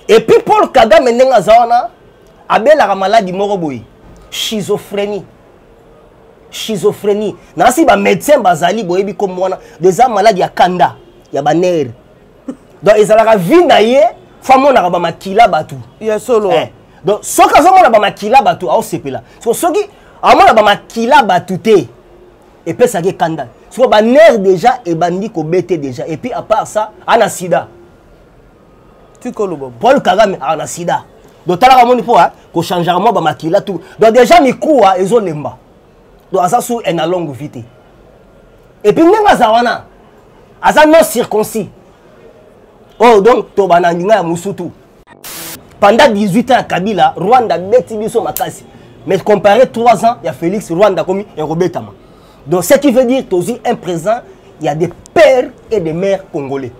epuis paul kagame ndenge aza wana abelaka maladi moko boye schizophrenie schizophrenie nasi bamédecin bazali boyebi nkombo wana eza maladi ya kanda ya banere donc ezalaka vie na ye fo amonaka bamakila bato ya solo eh. donc soki azomona bamakila bato aosepela so soki amona bamakila bato te epesaki ekanda soko banere déjà ebandi kobete déjà epuis apart ça ana sida tika oloba paul kagame aza na sida donc talaka moni mpo kochangeaka mwa bamakila tu donc déjà mikuwa ezolemba donc aza sur un alongue vie te epuis ndenge aza wana aza non circoncis oyo oh, donc tobana ndinga ya mosutu pendant 18 ans ya kabila rwanda abeti biso makasi mais compare 3 ans ya félix rwanda akomi ekobetama Donc, ce qui veut dire que tu un présent, il y a des pères et des mères congolais.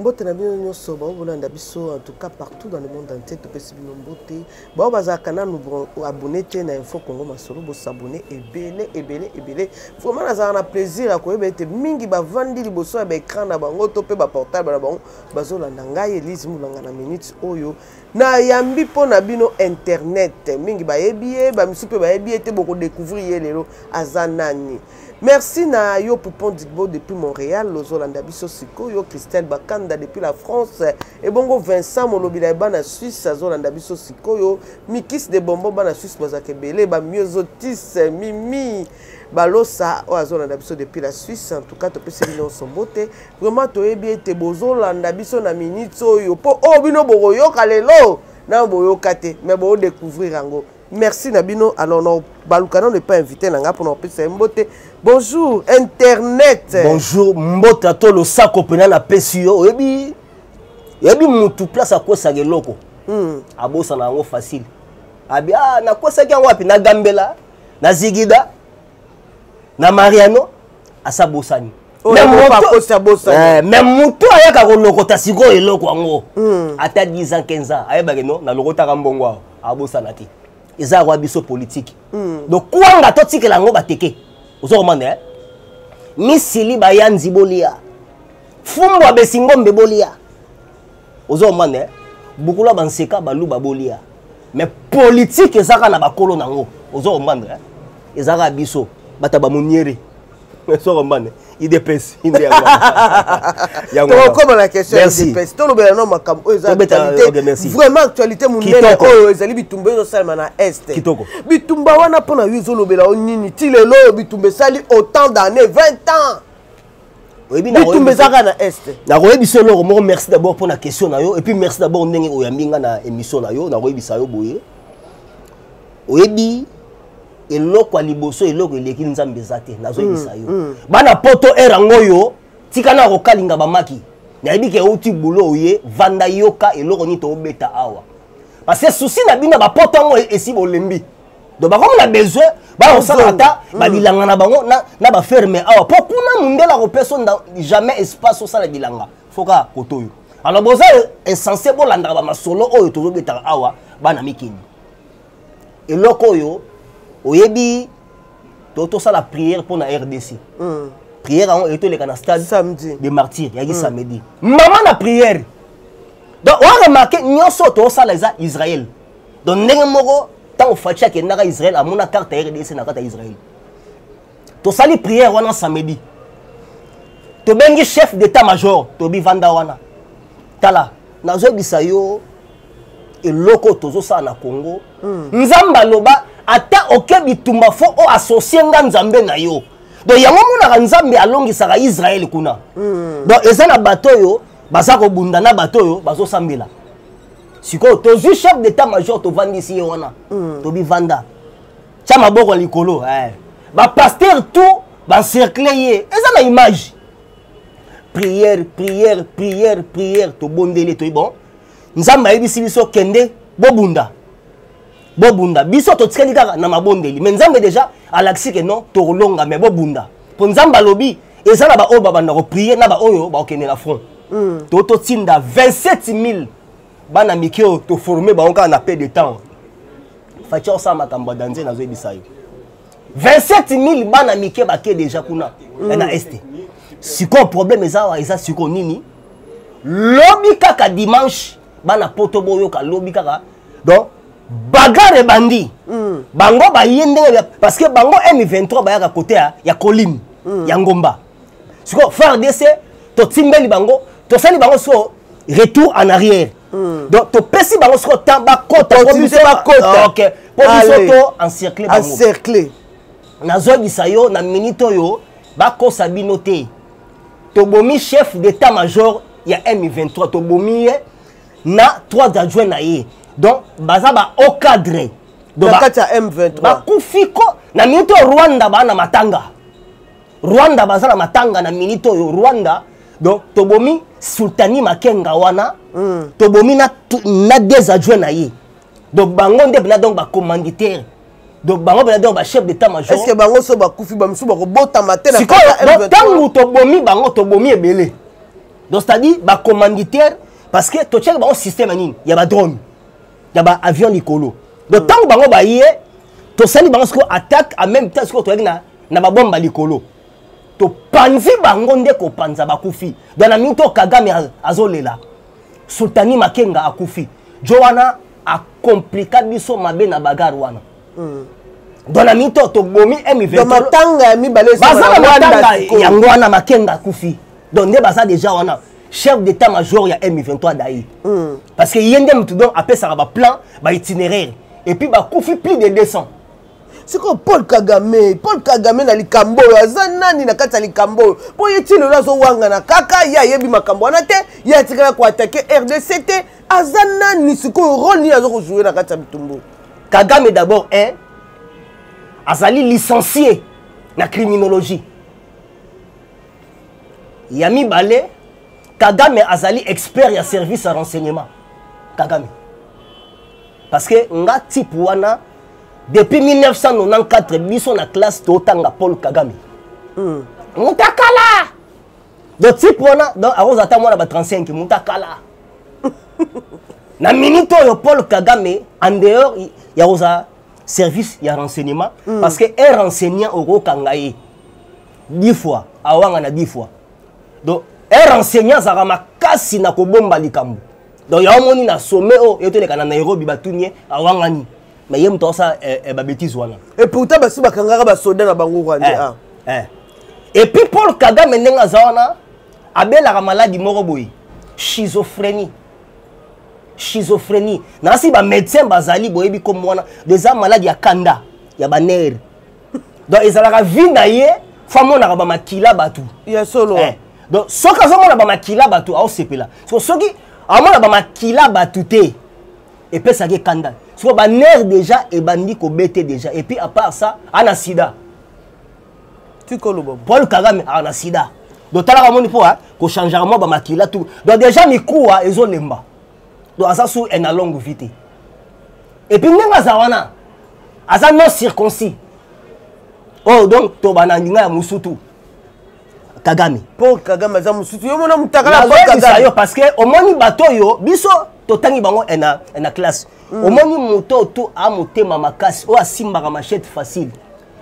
mbote na bino nyonso bango bolanda biso en tout cas partout dans le monde entier topesi bino mbote bango bazalaka nanu abonne te na info congo masolo bosabone ebele ebele ebele vraiment nazalaka na plaisir ya koyeba ete mingi bavandi liboso ya baecran na bango to mpe baportable na bango bazolanda ngai elise mulanga na minute oyo nayambi mpo na bino internet mingi bayebi ye bamisusu mpe bayebi ye te bokodecouvrir ye lelo aza nani merci na yo poupon digbo depuis montréal ozolanda biso sikoyo christelle bakanda depuis la france ebongo vincent molobila ya bana suisse azolanda biso sikoyo mikis de bombo bana suisse bazalaka ebele bamiozotis mimi balosa oyo azolanda biso depuis la suisse en tout cas topesi bino nyonso mbote vraiment toyebi ete bozolanda biso na minute oyo mpo oyo oh, bino bokoyoka lelo nano boyoka te mais boodécouvrir yango merci na bino alors na baluka nano epa invité na ngai mpona kopesa ye mbote bonjour internet bonjour mbote ato losako mpena napesi yo oyebi oyebi motu place akwesaka eloko hmm. abosana yango facile abi ah, nakwesaki yango wapi na gambela na zigida na mariano asabosani me moto ayaka kolokota sikoyo eloko yango hmm. ata 10 ans 15 ans ayebake no nalokotaka mbongo awa abosana te eza yakwa biso politike hmm. donc kwanga totikela yango bateke ozo komanda eh? misili bayanzi bolia fumbwa besingombe bolia ozo comprendre eh? bukula ba nseka baluba bolia mais politique ezaka na bakolo nango ozo comprendre eh? ezaka biso bata bamoniere ozo comprendre idps inde yangotokoma na question ya idps tolobela no makambo oyo eza actualité vraiment actualité monene oyo ezali bitumba ezosalema na est kitoko bitumba wana mpo na yo ezolobela yo nini ti lelo oyo bitumba esali autant d'année 20 ans oyebi bitumba eza kaka na est nakoyebisa yo eloko moko merci d'abord mpo na question na yo epuis merci d'abord ndenge oyambi nga na émission na yo nakoyebisa yo boye oyebi eloko ya liboso eloko eleki nzambe eza te nazoyebisa mm, yo mm. bana poto ere yango oyo tika na kokalinga bamaki nayebi ke euti bulo oye vanda yoka eloko nini tobeta awa parce que souci na bino bapoto yango esi bolembi donc bakomi na besoin bakosala ata mm. babilanga na bango na baferme awa mpo kuna mondele akopesa jamais espace osala bilanga foka koto oyo alors boza insense bolandaka bamasolo oyo tozobetaka awa bana mikili eloko oyo oyebi tosala prière mpo na rdc mm. prière yango eye toleka na stade de martyr yaki mm. samedi mama na prière donc oaremarke nyonso oyo tosala eza israel donc ndenge moko ntango faci akendaka israel amona carte ya rdc na kati ya israel tosali prière wana samedi tobengi chef d'état major tobi vanda wana tala nazoyebisa yo eloko tozosala na congo mm. nzambe aloba ata oke bitumba fo o associe nga nzambe na yo donc yango omonaka nzambe alongisaka israele kuna mm. donc eza na bato oyo baza kobunda na bato oyo bazosambela sikoyo tozwi chef d'état major tovandisi ye wana mm. tobivanda tya maboko ya likolo eh. bapaster tout bancercle ye eza na image prière prière prière prière tobondeli toyi bon nzambe ayebisi biso kende bobunda bobunda biso totikali kaka na mabondeli mais nzambe deja alakisi ke non tokolonga mais bobunda mpo nzambe alobi eza na baoyo babanda koprie na baoyo bakokende na front mm. to totinda 27000 bana mike oyo toforme bango kaka na pe de temps faci osala makambo ya danze nazoyebisa yo 27000 bana mike bake deja kuna mm. na este sikoyo problème eza awa eza sikoyo nini lobi kaka dimanche bana poto boyoka lobi kaka donc bagarre ebandi mm. bango baye ndenge parce que bango m23 bayaka kote ya, ya colline mm. ya ngomba sikoyo fardc totimbeli bango tosali bango sikoyo retour en arrière mm. donc topesi bango sikoyo temps bakota po biso bakota ok po biso to encercle bango encercle nazwagisa yo na minute oyo bakosa bino te tobomi chef d'état major ya m23 tobomi ye na 3 adjoint na ye donc baza ba au cadre kati ya m23 bakufi ko na minute oyo rwanda baa na matanga rwanda baza na matanga na minute oyo rwanda donc tobomi sultani makenga wana mm. tobomi na, na des adjoint na ye donc bango nde bina donc bacommanditaire donc bango bana donc bachef d'état major est ce que bango so bakufi bamosusu bakobotama te sikoyo ntango tobomi bango tobomi ebele donc c'est à dire bacommanditaire parce que totyaki bango système ya nini ya badrone ya baavion likolo donc ntango hmm. bango baye tosali bango sikoyo attaque en même temps sikoyo toyaki na, na babomba likolo topanzi bango nde kopanza bakufi donc na mingi to kagame azolela sultani makenga akufi jo wana a compliqua biso mabe na bagarre wana mm. donc na mito tobomi mvmatanga ya mibale baza na matanga yango wana makenga akufi donc nde baza déjà wana chef d'état major ya m23 dai mm. parce que ye nde motu donc apesaka baplan baitinéraire epuis bakufi plus de 200 sikoyo paul kagame paul kagame na likambo oyo aza nani na kati ya likambo oyo mpo ye ti lelo azowangana kaka ye ayebi makambo wana te ye atikala koatake rdc te aza nani sikoyo role nini aza kojoue na kati ya bitumbu kagame d'abord un azali licencie na criminologie ya mibale kagame azali expert ya service ya renseignement kagame parce que nga type wana depuis 1994 biso na classe totanga paul kagame mm. mutakala donc type wana donc akozala ata mwana ba 35 moto akala na minute oyo paul kagame en dehors ya kozala service ya renseignement mm. parce que un renseignant okokanga ye dix fois awanga na dix fois donc un renseignant azalaka makasi na kobomba likambo donc yango omoni na sommet oyo yo toleka na nairobi batuni ye awangani mais ye moto aosa eh, eh, babetise wana et pourtant basi bakangaka basoda na bango rwande eh, ah. eh. et puis paul kagame ndenge aza wana abelaka maladi moko boye schizophrénie schizophrénie nasi bamédecin bazali boyebi komo wana eza maladi ya kanda ya banere donc ezalaka vie na ye fo amonaka bamakila bato ya solo eh. donc soki azomona bamakila bato aosepela so soki amona bamakila bato te epesaki ekanda soko banere déjà ebandi kobete déjà et puis à part ça ana sida paul kagame ana sida donc talaka moni mpo kochangeaka mwa bamakila tu donc déjà mikuwa ezolemba donc aza sur un alongo vie te epuis ndenge aza wana aza non circoncis oyo oh, donc tobana ndinga ya mosutu kagame mpo kagame aza mosutu yo mona motakalaoyebisa yo parce que omoni bato oyo biso totangi bango na, na classe mm. omoni moto oyo to amotema makasi oyo asimbaka machete facile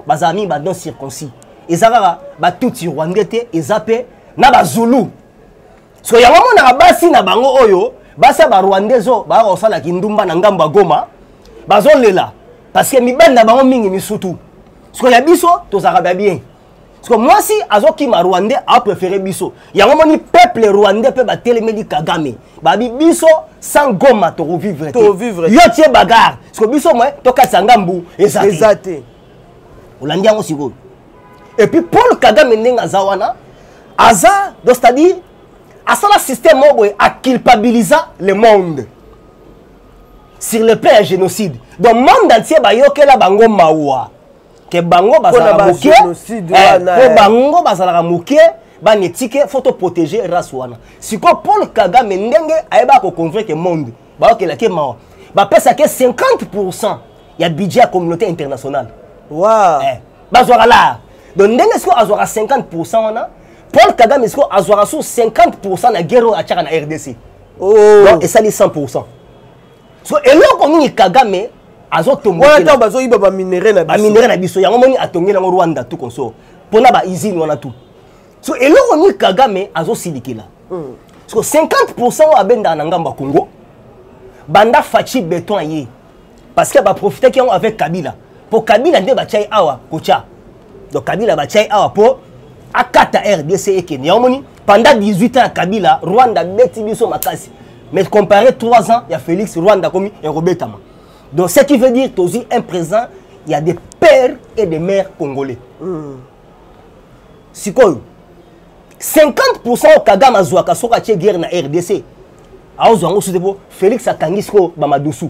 bazala mingi badon circoncis eza kaka batuti rwandais te eza mpe na bazulu so yango amonaka basi na bango oyo basi ya barwandais oyo baya kosala kindumba na ngambo ya goma bazolela parce que mibali na bango mingi misutu sikoyo ya biso tozalaka bya bien sikoyo mwasi azokima rwandais apréféré biso yango moni peuple rwandais mpe batelemeli kagame babi biso sans goma tokovivre te yo tie bagare sikoyo biso mwe tokatisa ngambu eza te olandi yango sikoyo et puis paul kagame ndenge aza wana aza do c'est-à-dire asala système moko boye aculpabilisa le monde sur le plan ya génocide donc monde entier bayokela bango mawa ke bango bazalaka moke po eh, eh. bango bazalaka moke bana etike fo toprotege race wana sikoyo paul kagame ndenge ayebaka koconvaincre monde bayokelaki ye mawa bapesaki ye 50 pourcent ya budget ya communauté internationale wow. eh, bazwaka laa donc ndenge sikoyo azwaka 50 pourcent wana paul kagame sikoyo azwaka so 50 pourcent na guerre oyo atyaka na rdc oh. donc esali 100 pourcent so eloko nini kagame azotombowana ntango bazoyiba baminerai na biso baminerai na biso yango moni atongeli yango rwanda tu konso mpo na baizine wana tu so eloko nini kagame azosilikela mm. so 50 pourcent oyo abendaka na ngambo ya congo banda faci beton aye parce que baprofitaki yango avec kabila mpo kabila nde batya ye awa kotya donc kabila batya ye awa mpo akata rdc ekende yango moni pendant 18 ans ya kabila rwanda abeti biso makasi mais comparé 3 ans ya félix rwanda akomi ekobetama donc ce qui veut dire tozwi un présent ya des pères et des mères congolais mm. sikoyo 50 pourcent oyo kagame azwaka soki atye guerre na rdc aozwa yango soki te mpo félix akangi sikoyo bamadusu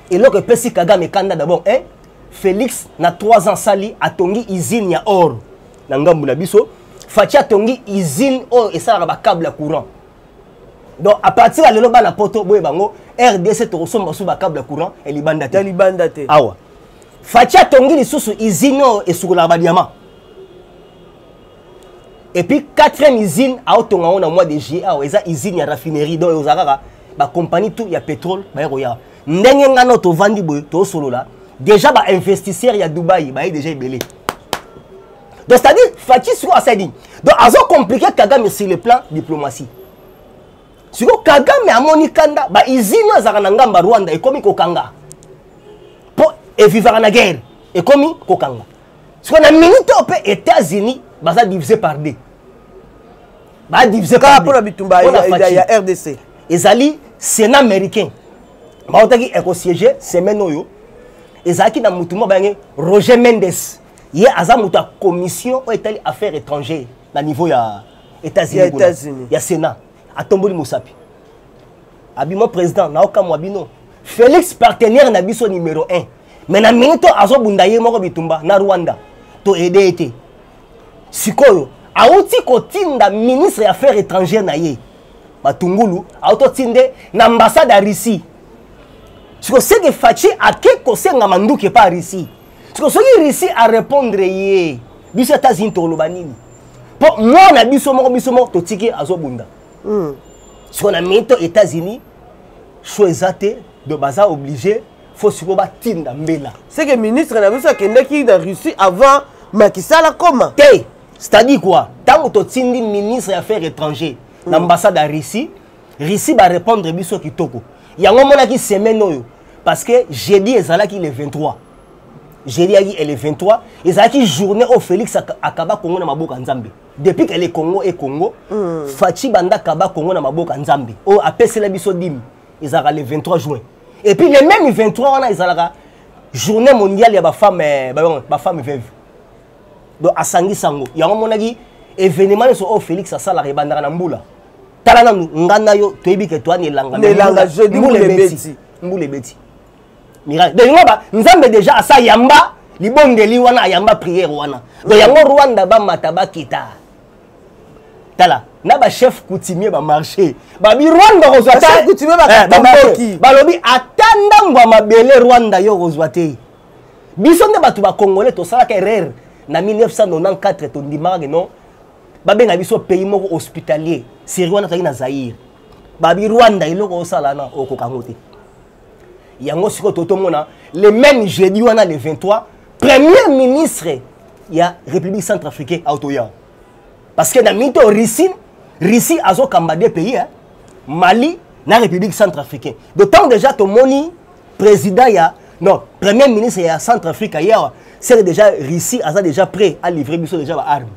eloko epesi kagame ekanda d'abord eh? félix na 3 ans sali atongi usine ya or na ngambo na biso faci atongi usine oyo esalaka bacable ya courant donc à partir ya lelo bana poto boye bango rdc tokosomba su bacable ya courant elibanda te elibanda te awa faci atongi lisusu izine oyo esukolaka badiama epuis quatrième izine aotonga yango na mois de juillet awa eza izine ya raffinerie donc ekozala kaka bacompagnie tout ya pétrole baye koya ndenge ngai no tovandi boye tosolola déjà bainvestisseur ya dubai baye déjà ebele donc c'est-à-dire faci sikoyo asali nini donc azokomplike kagame sur le plan diplomatie siko kagame amoni kanda ba izini azalaka na ngamba rwanda ekomi kokanga mpo evivaka na guerre ekomi kokanga siko na minute oyo mpe états-unis baza divise par deux ba divise par mpo na bitumba ya rdc ezali sénat américain bautaki ekosiege semaine oyo ezalaki na motu moko bayangi roger mendes ye aza moto ya commission oyo etali affaire étrangère na niveau ya états-unis États ya sénat atomboli mosapi abima président naokamwa bino félix partenaire na biso numéro 1 mais na minute oyo azobunda ye moko bitumba na rwanda to aide ye te sikoyo awuti kotinda ministre ya affaire étrangère na ye matungulu awuti otinde na ambassade ya russie sikoyo seke faci ake kosenga manduki epa russie siko soki russie arépondre ye biso états-unis tokoloba nini mpo mwana biso moko biso moko totiki azobunda hmm. siko na minito états-unis sho eza te do baza oblige fo sikoyo batinda mbela seke ministre na biso akendaki na russie avant makisal akoma te c'est-à-dire quoi ntango totindi ministre ya affaire étranger na hmm. ambassade ya russie Russie ba répondre biso kitoko. Yango monaki semaine oyo parce que jeudi ezalaki le 23. Jeudi yaki et le 23 ezalaki journée au Félix akaba Congo na maboka Nzambe. Depuis que le Congo est Congo, mm. Fatshi banda kaba Congo na maboka Nzambe. O apesela biso dimi ezalaka le 23 juin. Et puis le même 23 wana ezalaka journée mondiale ya ba femme eh, ba, ba femme veuve. Donc asangisa ngo. Yango monaki événement nyonso oyo Félix asalaka ebandaka na mbula. tala nanu nga na yo toyebi ke toani elanga na elanga jeudi mbula ebeti mbula ebeti miracle donc yango ba nzambe déjà asa yamba libondeli wana ayamba prière wana donc yango rwanda bamata bakita tala na bachef coutumier bamarche babi rwanda okozwa eh, balobi ata ndambo ya mabele rwanda yo okozwa te biso nde bato bakongole tosalaka erreur na 1994 tondimaka ke non babenga biso pays moko hospitalier seri wana tozalaki na zaire babi rwanda eloko osala na okoka yango te yango sikoyo totomona le même jeudi wana le 23 premier ministre ya république centre africain autoya parce que na mito russie russie azokamba de pays eh? mali na république centre africain donc ntango déjà tomoni président ya non premier ministre ya centre afrique ye awa seke déjà russie aza déjà prêt alivre biso déjà baarme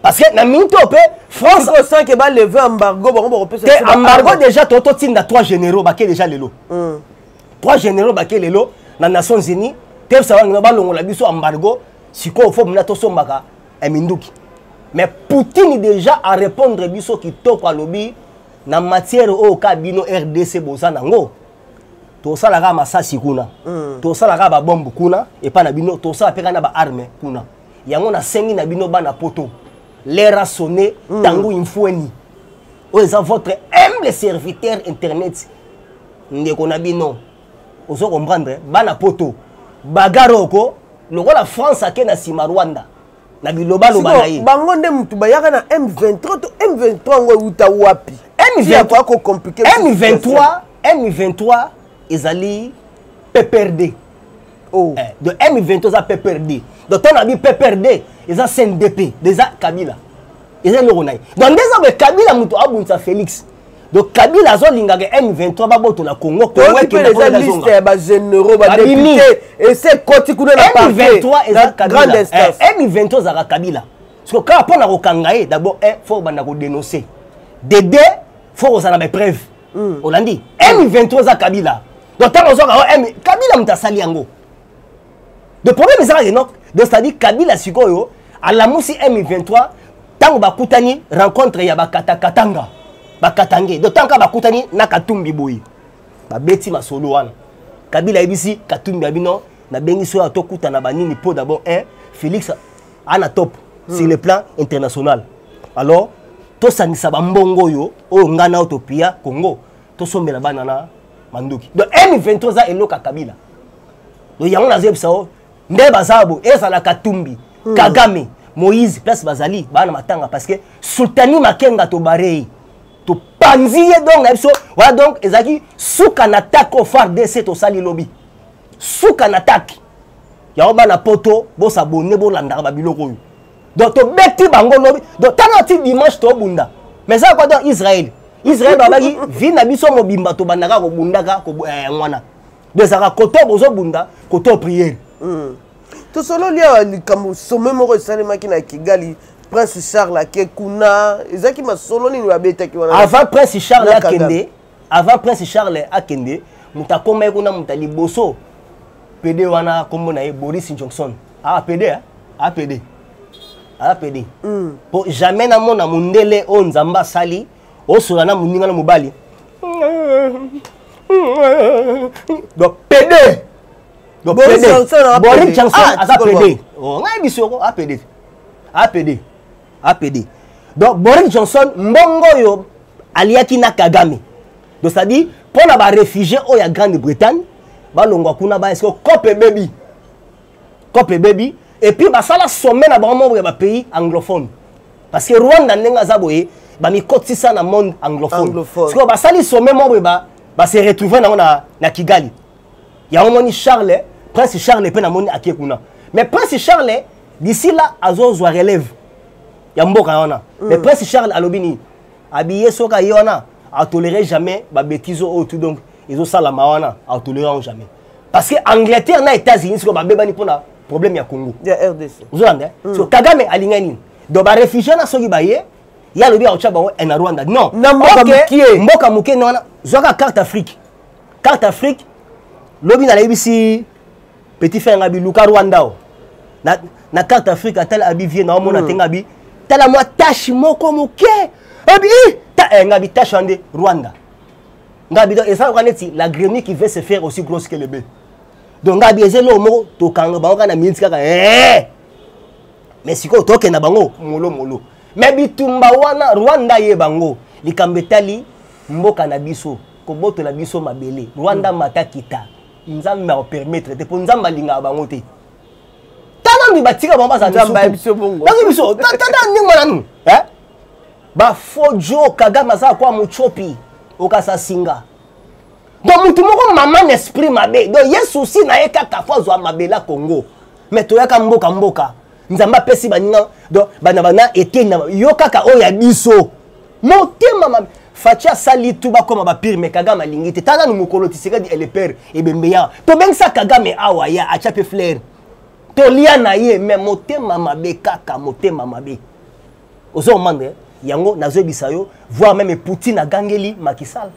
parce que na minute oyo mpe france osanke baleve embargo bango bakopesa te embargo déjà to totinda trois généraux bake déjà lelo hmm. trois généraux bake lelo na nations unis tepesa bangino balongola biso embargo sikoyo fo mona tosombaka eh, minduki mais poutine déjà arépondre biso kitoko alobi na matière oyo ka bino rdc boza nango tosala kaka masasi kuna mm. tosala kaka babombe kuna epai na bino tosala mpe kaka na baarme kuna yango nasengi na bino bana poto lera sonne mm. tango infueni oyo eza votre humble serviteur internet ndeko na bino ozo comprendre bana poto bagare oko lokola france ake na nsima rwanda na bilobaloba na ye bango nde motu bayaka na m23 to m23 yango euta wapi yakoya kocomplike m23 m23 ezali pprd oh. eh, de m23 eza pprd donc ntango na bi pprd eza cndp eza kabila eza eloko na ye donc nde eza boye kabila moto abundisa félix donc kabila azolingaka m23 babotola congo kongoeza liste ya bageneraux badepute ese ekoti kuna na pargrande instance m23 eh, ezalaka kabila siko kaka mpo na kokanga ye d'abord eh, fo obanda kodenonce dede fo kozala na baepreuve hmm. olandi m23 eza kabila donc ntango ozwaka kabila moto asali yango de problème eza kaka enoke donc c'est-à-dire kabila sikoyo alamusi m23 ntango bakutani rencontre ya bakatakatanga bakatange donc ntango kaka bakutani na katumbi boye babeti masolo wana kabila ayebisi katumbi ya bino nabengisi oyo tokutana banini mpo d'abord un félix ana top hmm. sur le plan international alors tosangisa bambongo oyo oyo ngai nao topiya congo tosombela bana na manduki donc m23 eza eloko ya kabila donc yango nazeyebisa yo nde baza bo ezala katumbi hmm. kagame moïse place bazali baa na matanga parce que sultani makenga tobare ye topanzi ye donc na biso wana donc ezalaki suka na atake o fardc tosali lobi suka na atake yango bana poto bosabone bolandaka babiloko oyo donc tobeti bango lobi donc tala ti dimanche tobunda mais eza kwa donc israel israel babaki vi na biso mobimba tobandaka kobundaka mwana eh, donc ezalaka kote bozobunda kote priere hmm. tosololi awa likambo sommet moko esalemaki na kigali prince charles ake kuna ezalaki masolo nini babetaki wana avant prince charles akende avant prince charles akende moto akomaki kuna moto liboso pede wana nkombo na ye boris johnson aa ah, pede ah? aa ah, pede aa pede hmm. mpo jamais namona mondele oyo nzambe asali osola na moninga na mobali donc pede boris johnson aza pede ngai biso yoko apede apede apede donc boris johnson mbongo oyo aliaki na kagame donc c'est-à-dire mpo na baréfugie oyo ya grande bretagne balongwa kuna baya siko cope ebebi cope ebebi epuis basala sommet na bango membre ya bapays anglophone parce que rwanda ndenge aza boye bamikotisa na monde anglophone sikoyo basali sommet moko boye base retrouve nango na, na kigali yango moni charles prince charles mpe namoni ake kuna mais prince charles d'ici là azozwa relève ya mboka wana mm. mais prince charles alobi nini abiye soki aye wana atolere jamais babetise oyo tout donc ezosalama wana atolere yango jamais parce que angleterre na états-unis sikoyo babebani mpona problème ya congo ozolanda eh? mm. so kagame alingai nini donc baréfugie na soki baye ye alobi akotya bango eh, na rwanda non mboka moke na wana zwaka carte afrique carte afrique lobi na nayebisi petit frère ngabi luka rwanda o na, na carte afrique atala abi vie na omona mm. te ngabi tala mwa tache moko moke abi eh, ta eh, ngabi tache ande rwanda ngabi donc eza loka neti la grenie qui veut se faire aussi grosse que le bœuf donc ngabi eza eloko moko tokanga bango kaka na miniti kaka eh! mais sikoyo tokenda bango molo molo mais bitumba wana rwanda ye bango likambo etali mboka na biso kobotola biso mabele rwanda mm. mata kita nzambe akopermettre te mpo nzambe alingaka bango te tanambi batika bango bazalabayebisobongobazo biso tata ndenge mananu eh? bafo jo kagame aza kwa mocopi okasa singa donc motu moko mama na esprit mabe donc ye souci na ye kaka fo azwa mabela congo mais toyaka mboka mboka nzambe apesi baninga donc bana bana eteni yo kaka oyo ya biso motema mabe faci asali tu bakoma bapire me kagame alingi te tala nanu mokolo tisekadi elepere ebembe ya tobengisa kagame awa ya atya mpe flaire tolia na ye me motema mabe kaka motema mabe ozo omande eh? yango nazoyebisa yo voir meme poutine agangeli makisal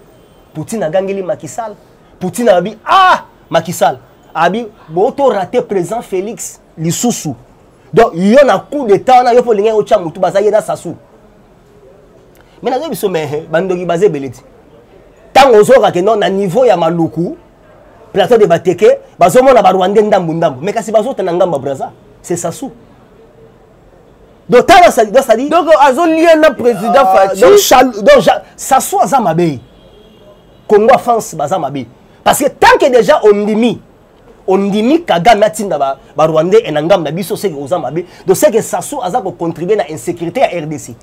poutine agangeli makisal poutine abi ah makisal abi botorate président félix lisusu donc yo na coup d'état wana yo mpo olingai otya motu baza ye na sasu me nazoyebi biso me eh, bandoki baza ebele ti ntango ozoyoka ke no na niveau ya maluku plateau de bateke bazomona barwandais ndambu ndambu me kasi bazota na ngambo ya braza se sasu donc tala sali donc sali donc azolia na président ah, faci donc chal donc sasu aza mabe congo france baza mabe parce que tant que déjà ondimi ondimi kagame atinda barwandais ba, ba na ngambo na biso seke oza mabe do seke sasu aza kocontribue na insécurité ya rdc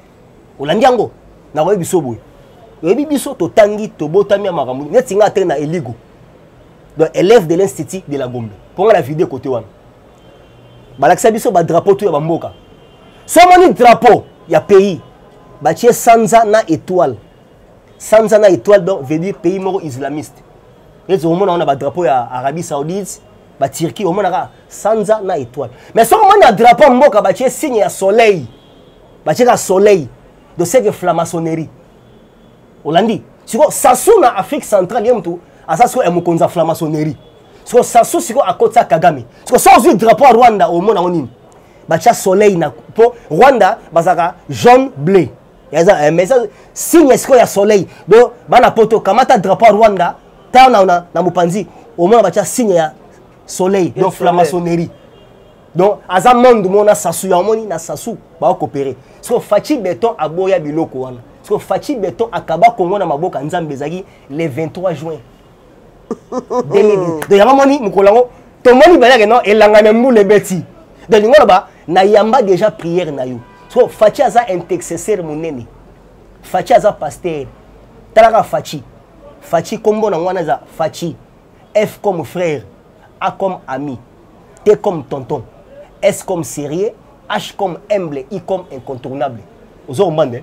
olandi yango nakoyebi biso boye oyebi biso totangi tobotami ya makambo neti ngai ate na eligo donc élève de l'institut de la gombe mpo ngai na vide kote wana balakisa biso badrapo to ya bamboka so omoni drapo ya pays batie sanza na étoile sanza na étoile donc veut dire pays moko islamiste ete omona wana badrapeau ya arabie saoudite baturquie omonaka sanza na étoile mais soki omoni na drapeau ya mboka batie signe ya soleil batie kaka soleil de seke flamaçonnerie olandi sikoyo sasu na afrique centrale ye motu aza sikoyo mokonzi ya flamaçonnerie sikoyo sasu sikoyo akotisa kagame sikoyo so ozwi drapeau ya rwanda omona yango nini batya soleil na mpo rwanda bazalaka jaune bleu yaza eh, mais signe esiko ya soleil donc bana poto kamata drapeau ya rwanda ta na, na, na mopanzi omona batya signe ya soleil donc flamasonerie donc aza monde moko na sasu ya omoni na sasu baokopere siko faci beton aboya biloko wana siko faci beton akaba kongo na maboka nzambe ezalaki le 23 juin donc yango moni mokolo yango tomoni bayake no elanga na mbula ebeti donc lingo loba nayamba déjà prière na yo so faci aza intercesseur monene faci aza pasteur talaka faci faci nkombo nango wana eza faci f comme frère a comme ami t comme tonton s comme sérieux h comme humble i comme incontournable ozo kombande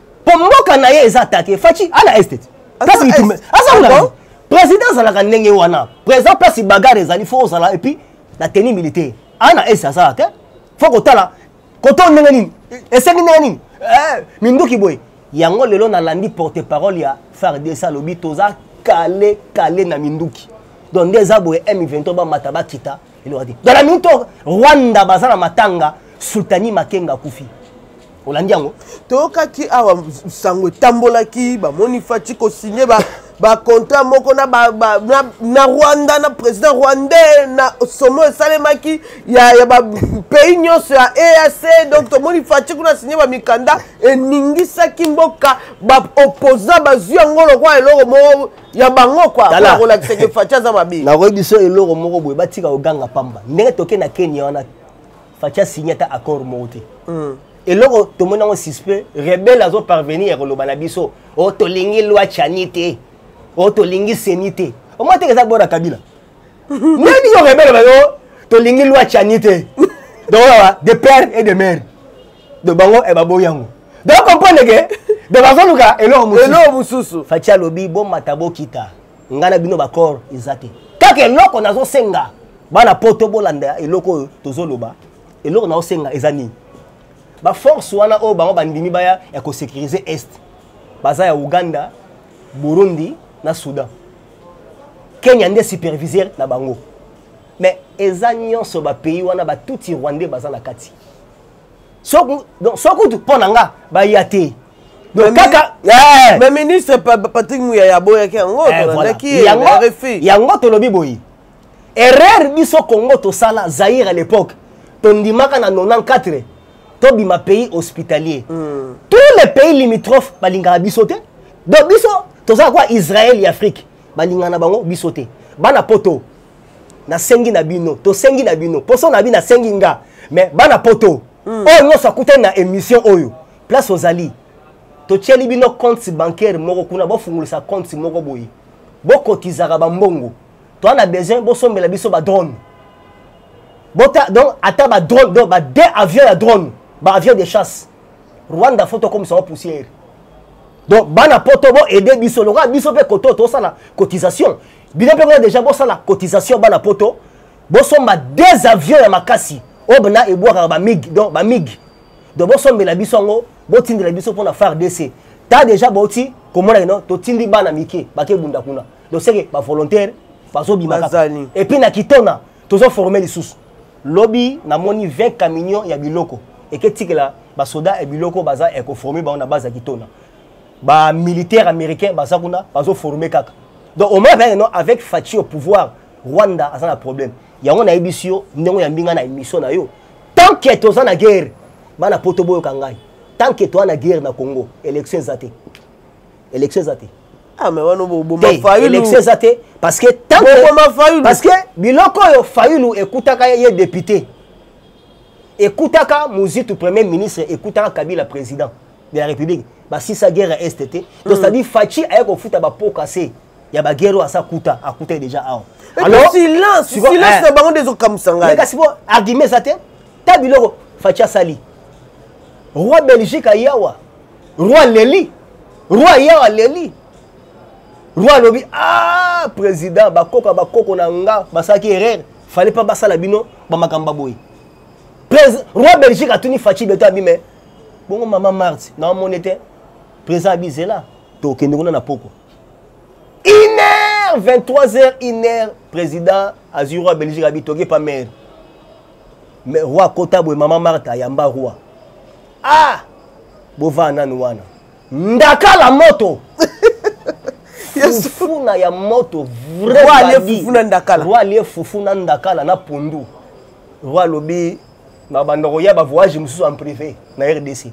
po mboka na ye eza atake faci ana estet place mitumbe aza kuna président azalaka ndenge wana président place bagare ezali fo ozala epuis na tenue militaire ana esi azala te fo kotala koto ndenge nini esengi ndenge nini eh, minduki boye yango lelo nalandi porte parole ya fardc alobi toza kale kale na minduki donc nde eza boye m23 bamata bakita eloko te donc na minute rwanda baza na matanga sultani makenga akufi olandi yango toyokaki awa sango etambolaki bamoni fati kosigne bacontra ba moko na, ba, ba, na, na rwanda na président rwandais na somo esalemaki ya, ya bapays nyonso ya eac donc tomoni fati kuna signe bamikanda eningisaki mboka baopposant bazwi yango lokola eloko moko ya bango kwakolakisaki fati aza mabe nakoyebi biso eloko moko boye batika koganga pamba ndenge toke na kenya wana facha signe ata accord moko te mm. eloko tomoni yango suspect rebele azo parvenir ya koloba na biso o oh, tolingi lwa chani te o oh, tolingi seni te omoi teke eza bona kabila nani yo rebele bayo oh, tolingi lwa chani te donc awa de père et de mère donc bango e baboyi yango donc comprendre ke donc bazoluka eloko mosusu facha alobi bomata bokita nga na bino baccord eza te kaka eloko nazosenga bana poto bolanda eloko oyo tozoloba eloko nazosenga eza nini baforce wana oyo bango bandimi baya ya kosécurise est baza ya uganda burundi na soudan kenya nde superviseur na bango mais eza nyonso bapays wana batuti rwandais baza na kati so kutu mpo na nga baya te donc kaka eh! mais ministre patrick muyaya aboyaki yango eh, tolandaki ye yango tolobi boye erreur biso congo tosala zaire à l'époque tondimaka na 94 tobima pays hospitalier mm. tous les pays limitrophes balingaka biso te donc biso tozala kwa israel ya afrique balingana bango biso te bana poto nasengi na bino tosengi na bino poso na bino nasengi nga mais bana poto mm. oyo nyonso akutani na émission oyo place ozali totyeli bino compte bancaire moko kuna bofungolisa compte moko boye bokotizaka bambongo toa na besoin bosombela biso badrone bota donc ata badrone donc bade avion ya drone baavion de chasse rwanda fo tokomisa wa poussière donc bana poto boaide biso lokola biso mpe koto tosala cotisation bino mpe kuna deja bosala cotisation bana poto bosomba deux avions ya makasi oyo bana ebwakaka bamig donc bamig donc bosombela biso yango botindela biso mpo na fardc ta deja bauti komona kino totindi bana mike bakebunda kuna donc seke bavolontaire bazobimaka epuis na kitona tozoforme lisusu lobi namoni 20 camion ya biloko eketikela basoda ya biloko baza ekoforme bango na base ya kitona ba militaire américain baza kuna bazoforme kaka donc omoi apeaka no avec faci au pouvoir rwanda aza na problème yango nayebisi yo ndenge oyambi ngai na émission na yo tant que toza na guerre bana poto boyoka ngai tant que toza na guerre na congo élection eza te élection eza te ah, élection eza te parce que parce que biloko oyo fayulu ekutaka ye député ekutaka muzitu premier ministre ekutaka kabila président de la république basisa guerre ya este te to mm. cetadire faci aye kofuta bapoka se ya baguerre oyo asa kuta akuta ye déjà awa silence na bango nde ezokamwisa ngai kasi po argument eza te ta biloko faci asali roi belgique ayawa roi leli roi ayawa leli roi alobi a ah, président bakoka bakoko na nga basalaki erreur fallait pas basala bino bamakambo boye roi belgique atuni faci beto abime bongo mama marti na omoni te président abizela tokende kuna na poko une heure 23 heures une heure président azwi roi belgique abi toke pa mare mais roi akota boye mama marta ayamba roi ah bovaa nanu wana ndakala moto fufuna ya moto vraiali fufuna ndakala na pondu roi alobi na banda koya ba voyage mosusu en privé na rdc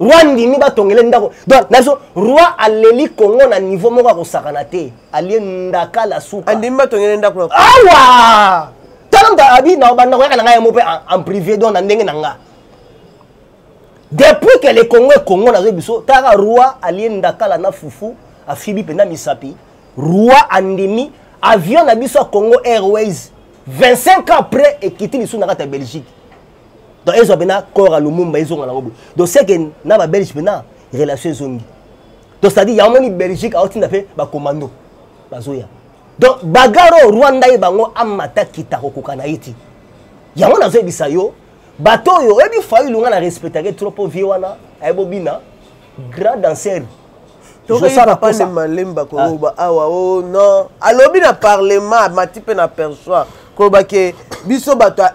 roi ndimi batongele ndako donc nazo roi aleli congo na niveau moko akosakana te alie ndaka la suka andimi batongele ndako awa tala moto abi na banda koyaka na ngai yango mpe en privé donc na ndenge na nga depuis que le congo e congo nazoyi biso taka roi alie ndakala na fufu afibi mpenza misapi roi andimi avion na biso ya congo airways 25 ans après ekiti lisusu na kati ya belgique donc ezwa mpena corps ya lumumba ezonga nango boye donc seke na babelge mpena relation ezongi donc c'est à dire yamoni belgique aotinda mpe bacommando bazoya donc bagare oyo rwanda ye bango amata kita kokoka na ye ti yango nazoyebisa yo bato oyo oyebi failunga na respectake trop mpo vie wana ayebobina grand danseur tozosala mposa malemba koloba ah. awa o oh, non alobi na parlement amati mpe na persoir koloba ke biso bato ya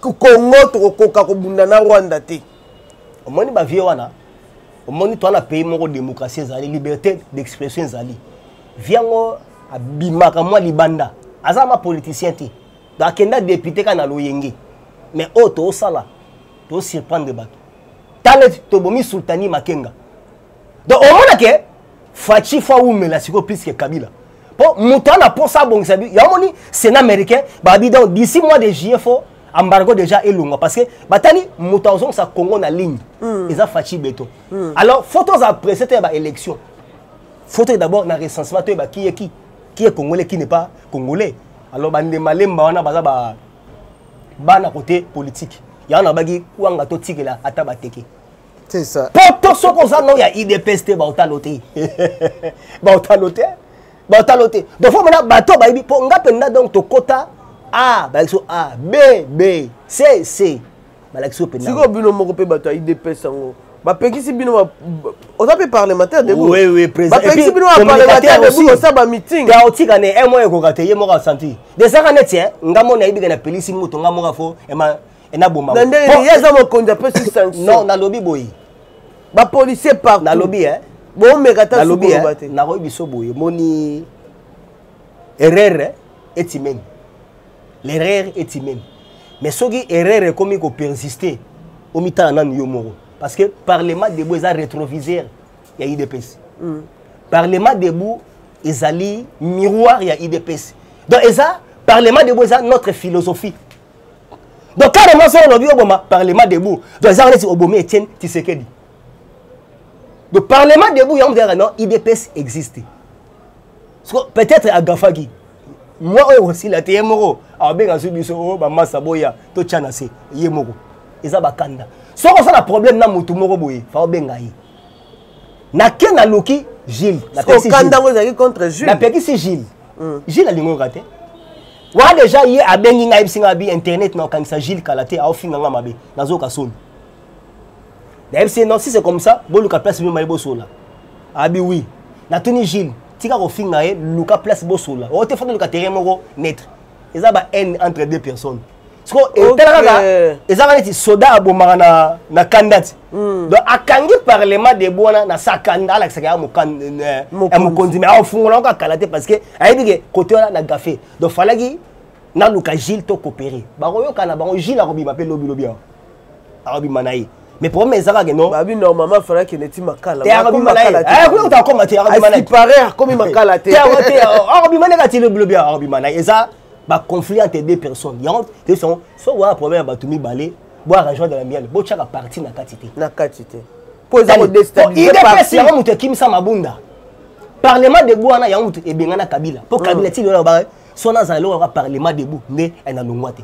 congo tokokoka kobunda na rwanda te omoni bavie wana omoni toa na pays moko démocratie ezali liberté d'expression ezali vi yango abimaka mwa libanda aza ma politicien te akenda député kaka na loyenge mais oyo oh, toosala tosurprendre bato tala tobomi sultani makenga donc omona ke faci fo awumela sikoyo plus ke kabila mpo moto ana mposa abongisa ya omoni sénat américain babi donc d'ici mois de juillet fo embargo déjà elongwa parce que batali moto azongisa congo na ligne mm. eza faci beto mm. alors fo tozala presse te ya baélection fo toye d'abord na recensement toyeba qui est qui qui est congolais qui n'est pas congolais alors bandemalemba wana baza ba bana kote politiki yango nabaki kwanga totikela ata bateke poto soki oza no ya idps te baotalo te baotalo te baotalo te donc fo mona bato bayebi mpo nga mpenza donc tokota a bayebi so a b b c c balakisi yo mpenza sikoyo bino moko mpe bato ya idps yango bapekisi bino oza mpe parlementaire debapekisi bino baparlementaire debu kosa bamiting otika ne un mois ekoka te ye moko asanti desaka neti nga moni ayebika na pelisi moto nga moko afo enaboma na ndenge ye aza mokonzi apesi sanction non nalobi boye bapolicier partout nalobi e bomeka ta nalobi e nakoyebi biso boye moni erreur etimeni l'erreur est humaine mais soki erreur ekomi ko persister omitala nanu yo moko parce que parlement debout eza rétroviseur ya idps mm. parlement debout ezali miroir ya idps donc eza parlement debout eza notre philosophie donc carrément soki olobi oboma parlement debout donc eza neti obomi etienne tisekedi donc parlement debout yango mizalaka non idps existe peut-être agafaki mwa oyo ekosila te ye moko abenga zwi biso oyo oh, bamasa boya totya na se ye moko eza bakanda soki osala problème na motu moko boye fa obenga ye nake naluki gile napekisi gile hmm. gile alingoyoka te wa deja ye abengi ngai ayebisi ngai abi internet naokangisa gile kala te aofinga ngai mabe nazoyoka soni nayebisi ye non si c'est comme ça boluka place mimai bosola abi wi natuni gile tika kofinga ye luka place bosolola oyo te fanda luka terrain moko neutre eza ba haine entre deux personnes sikoyo etala kaka eza kaka neti soda abomaka na, na kanda ti hmm. donc akangi parlement de bwana na sa kanda alakisaka ya eh, eh, mokonzi me aofungola yango kakala te parce que ayebi ke kote wana na gafe donc falaki naluka gile to coopere bakoyokana bango gile akobima mpe lobilobi awa akobima na ye mais problème eza kaka non babi normalement fallait que neti makala te akomi makala te eh kuta koma te akomi makala te pareil akomi makala te te akomi akomi makala te le blobia akomi makala eza ba conflit entre deux personnes yango te sont so wa problème ya bato mibale bo arrangement de la mienne bo chaka parti na kati te na kati te po eza ko destabiliser parti yango moto ekimisa mabunda parlement de bo wana yango moto ebengana kabila po kabila ti lona ba so na zalo wa parlement de bo nde na longwa te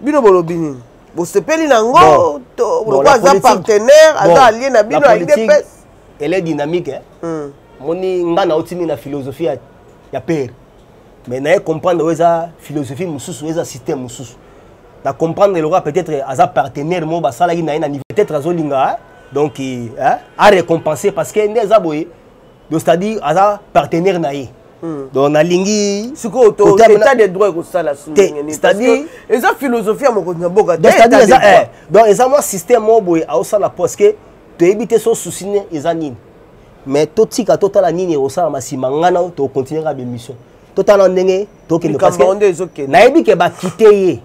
bino bolobi nini bosepeli na yango lokola aza partenaire aza alie na bino ya idps elle est dynamique eh? mm. moni ngai naotimi na philosophie ya, ya pere mais naye comprendre oyo eza philosophie mosusu eza système mosusu na comprendre lokola peut-être aza partenaire moko basalaki na ye na niveau peut-être azolinga eh? donc eh? a récompense parce que nde eza boye donc c'est-à-dire aza partenaire na ye hmm. donc nalingi sikoyo état de droit ekosala c'est-à-dire eza philosophie ya mokonzi na boka donc eh, eza mwa système moko boye aosala parce que toyebi te so souci ne eza nini mais totika totala nini ekosalama nsima ngai na tokontinue kaka bemission totala ndenge tokende nayebi ke bakite ye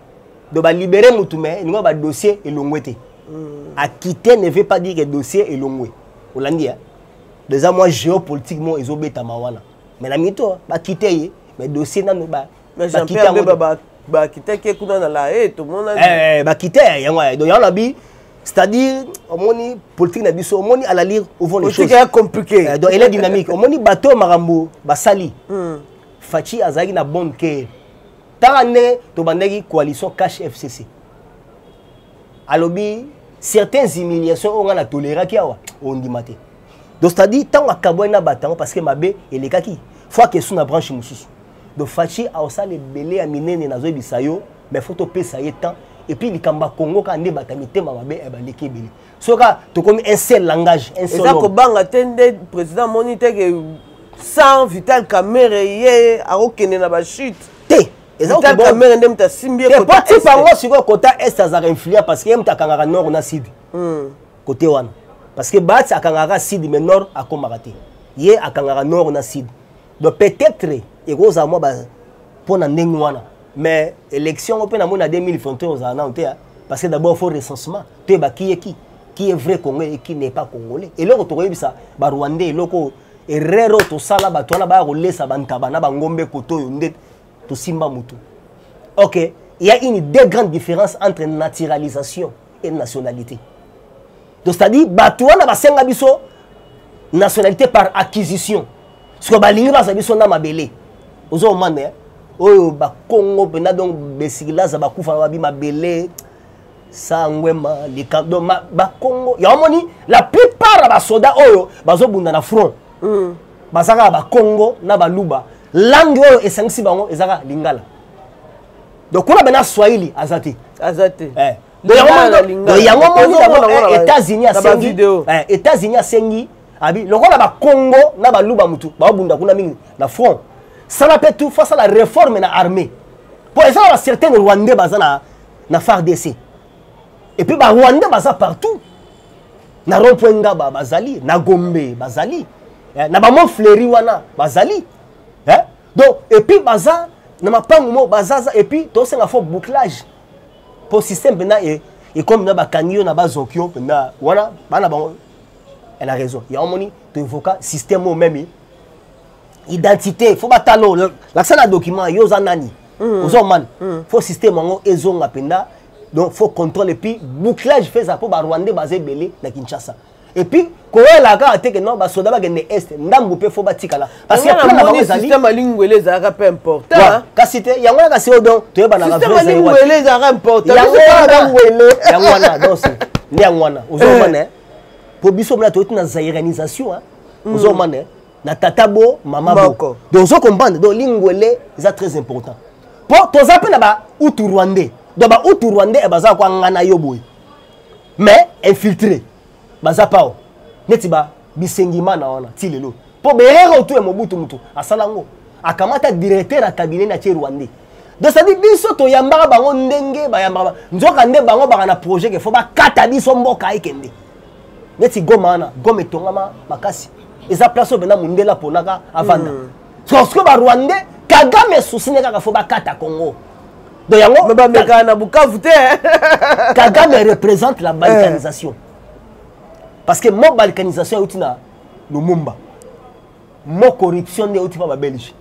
donc balibere motu mai elingo badossier elongwe te hmm. akite ne veut pas dire ke dossier elongwe olandi ya eza mwa géopolitique moko ezobetama wana mais na mito bakite ye mais dossier nano bakitaki ye kuna na la e tomonani eh, eh, bakite yango donc yango nabi c'est-à-dire omoni politique na biso omoni à la lire ouvant les choses compliqué eh, donc elle est dynamique omoni bato makambo basali hmm. fachi azalaki na bonne cœur tala nde tobandaki coalition cash fcc alobi certaines humiliations oyo ngai na toleraki awa ondima te donc c'est-à-dire ntango akabwani na bato yango parce que mabe elekaki fo akesu na branche mosusu donc faci aosala ebele ya minene nazoyebisa yo mais fo topesa ye temps epuis likambo ya kongo kaka nde bata mitema mabe eh, baleki ebele soka tokomi un seul langage un seul eza kobanga te nde président amoni te ke sans vital kamere ye akokende na bachute te ezaotalika mene nde moto asimbi ye po tipa yango sikoyo kota est azalaka influent parce que ye moto akangaka nord na sud hmm. kote wana parce que baati akangaka sud mais nord akomaka te ye akangaka nord na sud donc peut-être ekozala mwa mpo na ndenge wana mais élection yango mpe namoni na 2021 ozala nano te parce que d'abord faut recensement toyeba qui est qui qui est vrai congolais et qui n'est pas congolais eloko tokoyebisa barwandais eloko erreur oyo tosala bato wana baya kolesa bantaba na bangombe koto oyo nde tosimba mutu ok il y a une des grandes différences entre naturalisation et nationalité donc c'est à dire bato wana basenga biso nationalité par acquisition sikoyo balingi baza biso na mabele ozo omana oyo bakongo mpenza donc besikilaza bakufa babi mabele sangwema likambo bakongo yango omoni la plupart ya basoda oyo bazobunda na front mm. baza kaka bakongo na baluba langue oyo esangisi bango eza kaka lingala donc kuna bena swahili aza te aza te eh. yango omoni yango états-unis asengi eh, états-unis asengi abi lokola bakongo na baluba motu baobunda kuna mingi na front sala mpe tu fasala réforme na armée mpo eza na bacertain rwandais baza na na fardc et puis barwandais baza partout na rond point ngaba bazali na gombe bazali eh, na bamont fleuri wana bazali eh? donc et puis baza na mapangu moko bazaza et puis tosenga fo bouclage mpo système mpenza ekomi mpenza bakangi yo na bazoki yo mpenza wana bana bango elle a raison yango omoni toevoka système oyo meme identité faut batala oyo lakisa na document yo oza nani mm. oza omani mm. faut système yango ezonga mpenza donc faut contrôle epuis bouclage mpe eza mpo barwandais baza ebele na kinshasa epuis koyela kaka te ke non basoda bakende este ndambu mpe fo batikala système alingwele ezalaka mpe important kasi te yango yaka sio donc toyebanakaangwele ezalaka importantyango wana donc nde yango wana ozomana mpo biso mona toyoti na zairanisation ozomana na tata bo mama boko donc ozo comprendre donc lingwele eza très important mpo toza mpe na ba utu rwandais donc ba utu rwandais eh, baza kwangana yo boye mais infiltré baza pao neti ba bisengimana wana ti lelo mpo berere otu ya mobutu motu asala yango akamata directeur ya cabinet na tie rwandais donc cetadi biso toyambaka bango ndenge bayambaka nzoka nde bango baka na projet ke fo bakata biso mboka ekende neti goma wana goma etongama makasi eza place oyo bena mundele aponaka avanda mm. sorsiko barwandais kagame susi nde kaka fo bakata congo donc yango bamekana na bukavu te kagame représente la balkanisation eh. parce que mo balkanisation euti na lumumba mo corruption nde euti mpa babelge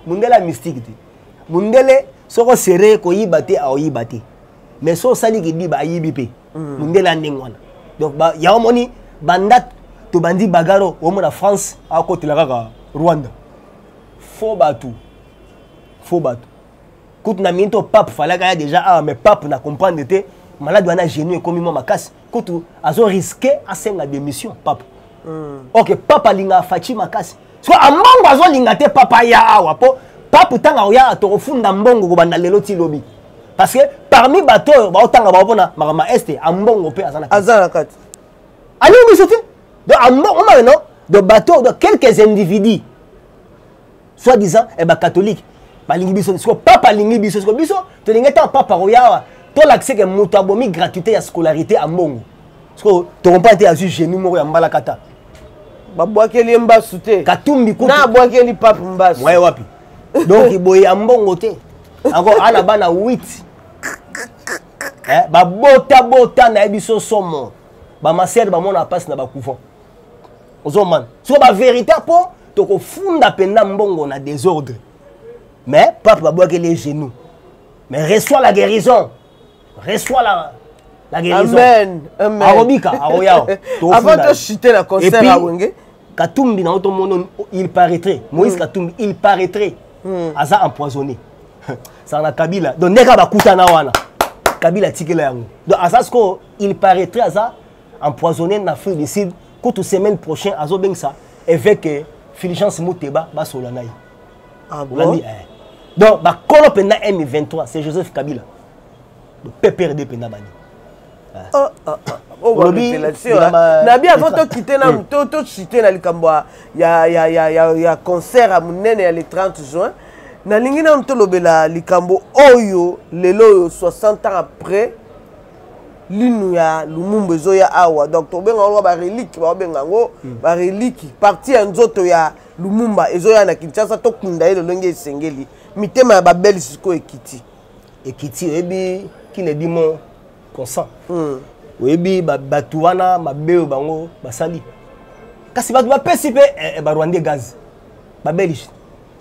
mundele ya mystique te mundele soko sere koyiba te aoyiba te mais so osali kidiba ayibi mpe mm. mundele ya ndenge wana donc yango omoni banda tobandi bagaro omona france akotela kaka rwanda fo bato fo bato kutu na mingi to pape falaka ya déjà awa ah, mais pape na comprendre te malade wana genou ekomi mwa makasi kutu azo risque asenga démission pape mm. ok papa alingaka faci makasi so ambongo azolinga te papa aya awa mpo papu ntango akoyaka tokofunda mbongo kobanda lelo ti lobi parce que parmi bato oyo baotanga bango mpona makambo ya este ambongo mpe aza na kati aza na kati alingi biso te donc ambongo omameno de bato de quelques individus soit disant eh, bacatholique balingi biso siko papa alingi biso siko biso tolingi ntango papa akoya awa tolakisa ke moto abomi gratuité ya scolarité ya mbongo siko tokompa te azwi génie moko ya mbalakata babwakeli ye mbasu te katumbi kutu na abwakeli pape mbasu mwaye wapi donc boye ya mbongo te yango ana bana 8 eh, babotabota na ye biso somo bamasere bamonaka mpasi na bacouvent ozomana soko baverité mpo tokofunda mpenza mbongo na désordre mais pape babwakeli ye genou mais reçoit la guérison reçoit la la guérison amen amen akobika akoyao avant to chuter na concert ya wenge katumbi na oto mono il paraîtrait moïse mm. katumbi il paraîtrait mm. aza empoisonné saka na kabila donc ndenge kaka bakutana wana kabila atikela yango donc aza sikoyo il paraîtrait aza empoisonné na afrique du sud kutu semaine prochain azobengisa évêque fulgence muteba basola na ye ah bon? olandi eh. donc bakolo mpenza m23 c'est joseph kabila pprd mpenza bani eh. oh, oh, oh. olobi nabi avant tokite na tocite na likambo ya concert ya monene ya le 30 juin nalingi nanu tolobela likambo oyo lelo oyo 60 ans après linu ya lumumbu ezoya awa donc tobenga yango barelike baobenga yango hmm. bareliki parti ya nzoto ya lumumba ezoya na kinshasa tokunda ye lolenge esengeli mitema ya babeli sikoyo ekiti ekiti oyebi kile dimo consent hmm. oyebi bato wana mabe oyo bango basali kasi bato bapesi mpe eh, eh, barwandais gaz babelge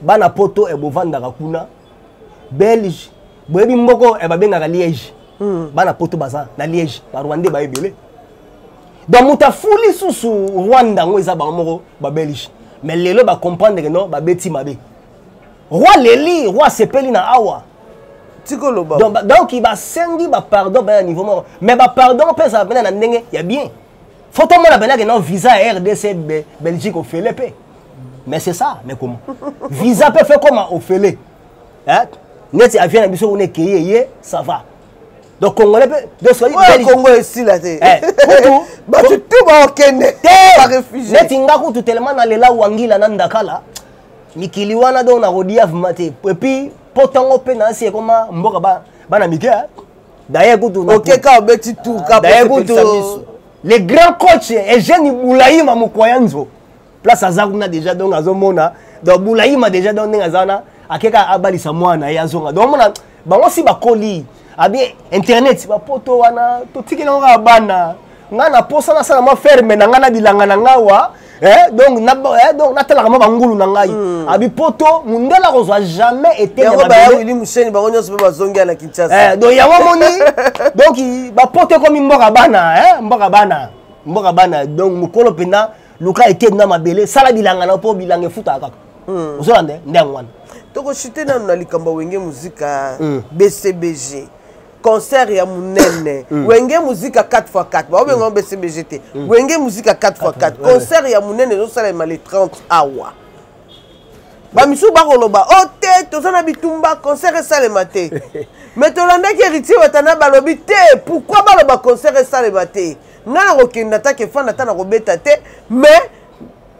bana poto ebovandaka eh, kuna belge boyebi mboko eh, babengaka liège hmm. bana poto baza na liège barwandais baye ebele donc moto afuli susu rwanda yango eza bango moko babelge mais lelo bacomprendre no babeti mabe roi leli roi asepeli na awa tikoloba donc basengi bapardon bana niveau moko mais bapardon mpe ezala mpena na ndenge ya bien faut tomona mpenake non visa ya rdc belgique ofele mpe mais c'est ça mais comment visa mpe fe koma ofele neti avion na biso kuna ekei eye ça va donc congolais mpe doscongo esila te eh, bato tu baokende neti nga kutu telema nalela wangila na ndakala mikili wana donc nakodiavma te epuis mpo ntango mpe nasi ekoma mboka bana mike D'ailleurs kutu na OK ka obeti tour ka D'ailleurs kutu le grand coach Eugène Boulaïma Mukwayanzo place aza kuna déjà donc azomona donc Boulaïma déjà donc ndenge aza na akeka abalisa mwana ye azonga donc omona bango si bakoli abi internet bapoto wana totikeli yango kaka bana ngai na posa nasala mwa ferme na ngai na bilanga na ngai wa Eh, donc na eh, donc na tala kama bangulu na ngai mm. abi poto mundela ko zwa jamais été ya ba belle ni museni ba onyo sobe bazongi na Kinshasa eh donc ya wa moni donc ba poto ko mi mboka bana eh mboka bana mboka bana donc mukolo pena luka été na mabele sala bilanga na po bilanga futa kaka mm. ozo lande ndango wana toko chute na na likamba wenge muzika mm. BCBG concert ya munene mm. wenge muzika 4x4 baobenga ngo mm. bcbg te mm. wenge muzika 4x4 concert ya munene ezosalema le 30 awa bamisusu bakoloba o oh, te toza na bitumba concert esalema te me tolandaki héritier watana balobi te pourkui baloba concert esalema te ngai nakokenda ata kefanda ata nakobeta te mais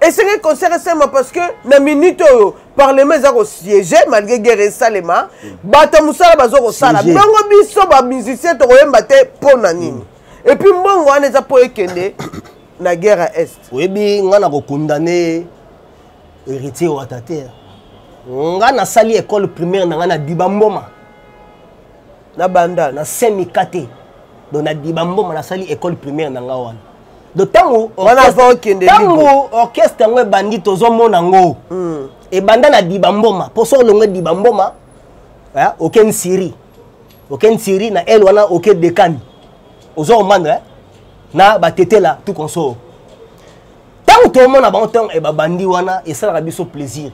esengeli concert esalema parce que na minute oyo parlement eza kosiege malgré guerre esalema bato ya mosala baza kosala bongo biso bamusicien tokoyemba te mpo na nini epuis mbongo wana eza mpo ekende na guerre ya est oyebi ngai nakokondane héritier wata te ngai nasali école primaire na ngai na diba mboma na bandal na saint mikate donc na diba mboma nasali école primaire na nga wana donc ntango ntango orchestre yango ebandi tozomona ngo hmm. ebanda na diba mboma mpo soki olongo diba mboma eh, oke nsiri oke nsiri na ele wana oke dekani ozo omanda eh, na batetela tout consort ntango tomona bango ntango eh, babandi wana esalaka biso plaisir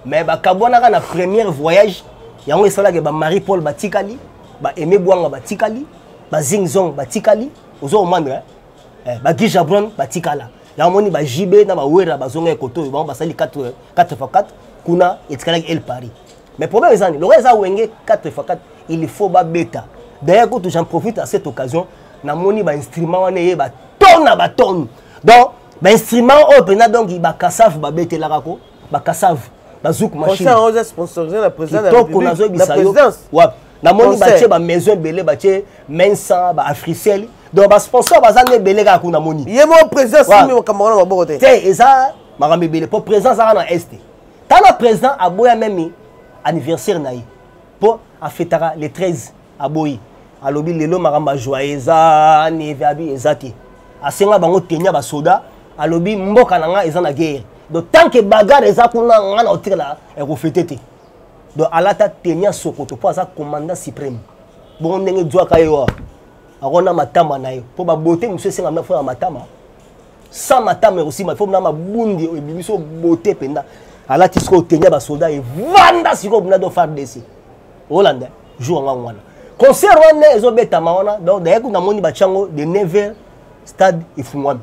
mais bakabwanaka na première voyage yango esalaka ba marie paul batikali ba aime bwanga batikali ba zing zong batikali ozo omandre eh, ba guy jabron batikala yango moni ba jb na bawera bazonga ekoto oyo bango basali 4 4 kuna etikalaki el paris mais problème eza nini lokola eza wenge 4 fois 4 il faut babeta d'ailleurs kutu j'en profite à cette occasion namoni bainstrument wana eye batone na batone donc bainstrument oyo mpenza donc bakasave babetelaka ko bakasave bazuku machinekitoko nazoyebisa yo wapi namoni batie bamaison ebele batie mensa baafricel donc basponsor baza nde ebele kaka kuna namoni ye moko président simbi makambo wana maboko te te eza makambo ebele mpo président azaka na este tala président aboya meme anniversaire na ye mpo afetaka le 13 aboyi alobi lelo makambo ya joye eza nevabi eza te asenga bango teni ya basoda alobi mboka na ngai eza na guerre donc tant que bagare eza kuna ngai na kotikala ekofete te donc alata teni ya sokoto mpo aza commandant supreme bongo ndenge zwaka ye wa akona matama na ye mpo babote mosusu esengami na fona matama sans matame aussi ma faut na mabundi oyo ebimi so bote mpenza alati sikoyo otenge ya basoda evanda sikoyo mpenza do fardc olanda jour yango yango wana concert wana ezobetama wana donc daye kuna namoni batya yango de 9 stade efungwami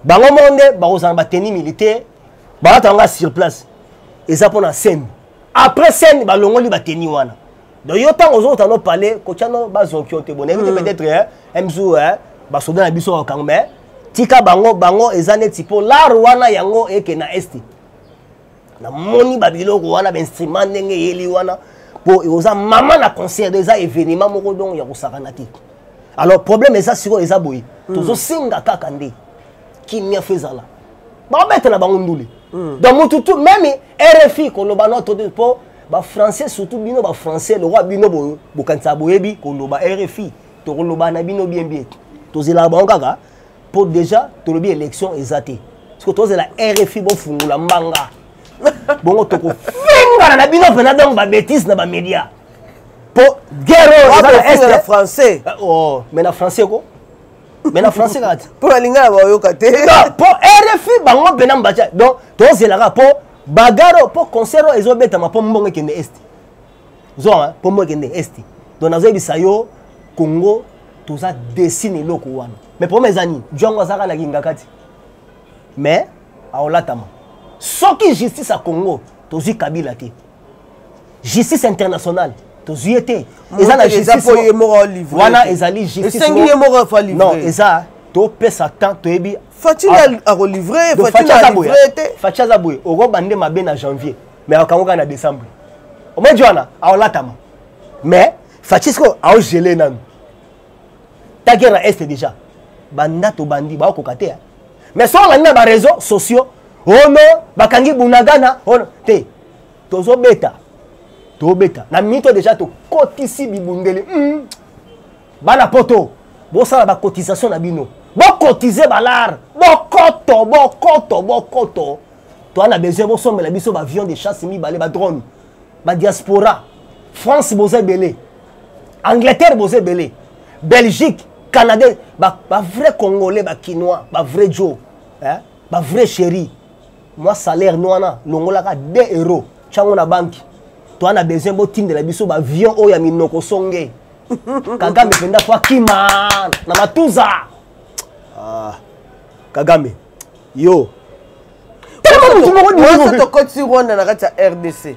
bango moko nde bakozala na bateni militaire balata yango sur place eza mpo na scène après scène balongoli bateni wana donc yo ntango ozokota no pale kotya no bazonki yo te bonayebi te hmm. peut-être mzu basoda na biso bakango mais tika bango bango eza neti mpo lare wana yango eke na este namoni babiloko wana bainstrument ndenge eyeli wana mpo oza mama na concert eza événement moko donc ya kosakana te alors problème eza sikoyo eza boye hmm. tozosenga kaka nde kimia fo ezala babetela bango ndule hmm. donc mutu tu meme rfi koloba noto mpo ba français surtout bino ba français lokola bino bokanisa boyebi koloba rfi tokoloba na bino bien bien tozelaka bango kaka mpo déjà tolobi élection eza te soki tozela rfi bofungola mbanga bongo tokofingana na bino mpena donc babétise na bamédia mpo guerre oyo eza na est na français eh, oh, mais na français ko mais na français kaka te mpo na lingala baoyoka te mpo rfi bango mpena mbatia donc tozelaka mpo bagaro mpo concert oyo ezobetama mpo mbongo ekende esti zoa mpo mbongo ekende esti donc nazoyebisa yo congo toza desi na eloko wana mais problème eza nini django azalaka na kingakati mais aolatama soki justice ya congo tozwi kabila te justice internationale tozwi ye te eza na justicewana ezali justice eza topesa temps toyebi Fatshi ah. ako livrer, Fatshi na livrer te. Fatshi aza boye, oroba nde mabe na janvier, mais akango ka na décembre. Omwe jwana, aolatama. Mais Fatshi siko ao geler nanu. Ta guerre na est déjà. Banda to bandi ba ko katea. Mais so la na ba réseaux sociaux, oh non, bakangi bunagana, oh non, te. Tozo beta. To beta. Na mito déjà to kotisi bibundeli. Mm. bana poto bosala bacotisation na bino bokotize balare bokoto bokoto bokoto toa na besoin bosombela biso baavion de chasse mibale badrone badiaspora france boza ebele angleterre boza ebele belgique canada bavrai congolais bakinois bavrai jo eh? bavrai chéri mwa salaire no wana longolaka 2 euro ntango na banki toa na besoin botindela biso baavion oyo ya minoko songe kagame mpenza po akima na matuza ah, kagame yo tokoti rwanda na kati ya rdc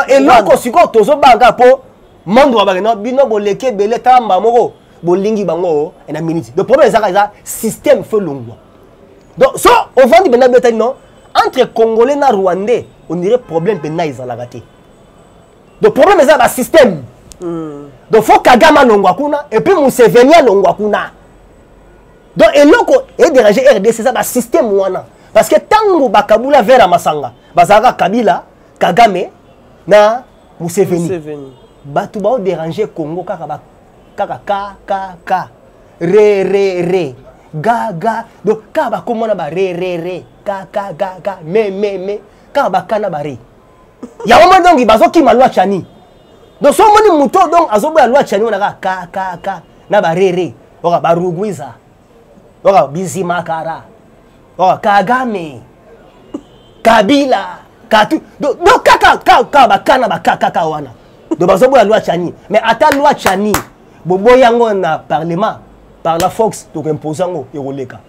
eloko sikoyo tozobanga mpo monde wabake no bino boleki ebele tamba moko bolingi bango eh, na minute le problème ezaka eza système fo elongwa donc so ovandi mpenza betani no entre congolais na rwandais on dirait problème mpenza ezalaka te donc problème eza ba système mm. donc faut kagame alongwa kuna et puis museveni alongwa kuna donc eloko edérange rdc eza ba système wana parce que ntango bakabula vere ya masanga bazalaka kabila kagame na museveni, museveni. bato baoderange congo kaka ba, kaka kkk re re re ga ga donc kaka bakomona ba re re re kaka ga ga me me me kaka bakana ba re yango moni donki bazokima lwa chani donc so omoni moto donc azoboya lwa chani wana kaka kakaka na barere oka barugwiza oka bizimakara oka kagame kabila katu donc kaka kaka bakana bakakaka wana donc bazoboya lwa chani mais ata lwa chani boboya yango na parlement par la fox tokoimpose yango ekoleka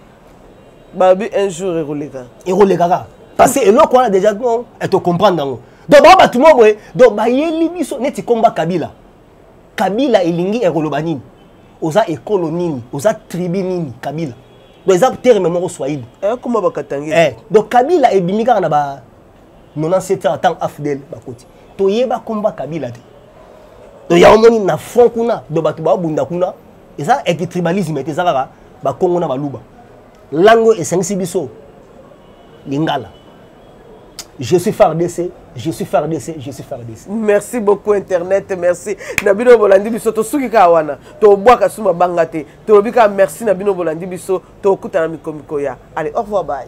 babi un jour ekoleka ekoleka kaka parce que eloko wana déjà non etocomprendre yango donc bao bato moko boye donc bayeli biso neti komba kabila kabila elingi ekoloba nini oza ekolo nini oza tribu nini kabila donc eza terme moko swahili ekoma eh, bakatangi eh, donc kabila ebimi kaka na ba 97 ans ntango afdel bakoti toyeba komba kabila te donc yango omoni na front kuna donc bato baobunda kuna eza eke tribalisme ete eza kaka bakongo na baluba lango esangisi biso lingala je suis fardc je suis fardc je suis fardc merci beaucoup internet merci na bino bolandi biso tosuki kaka wana tobwaka su mabanga te tolobi kaka merci na bino bolandi biso tokutana mikomiko ya allez au revoir bye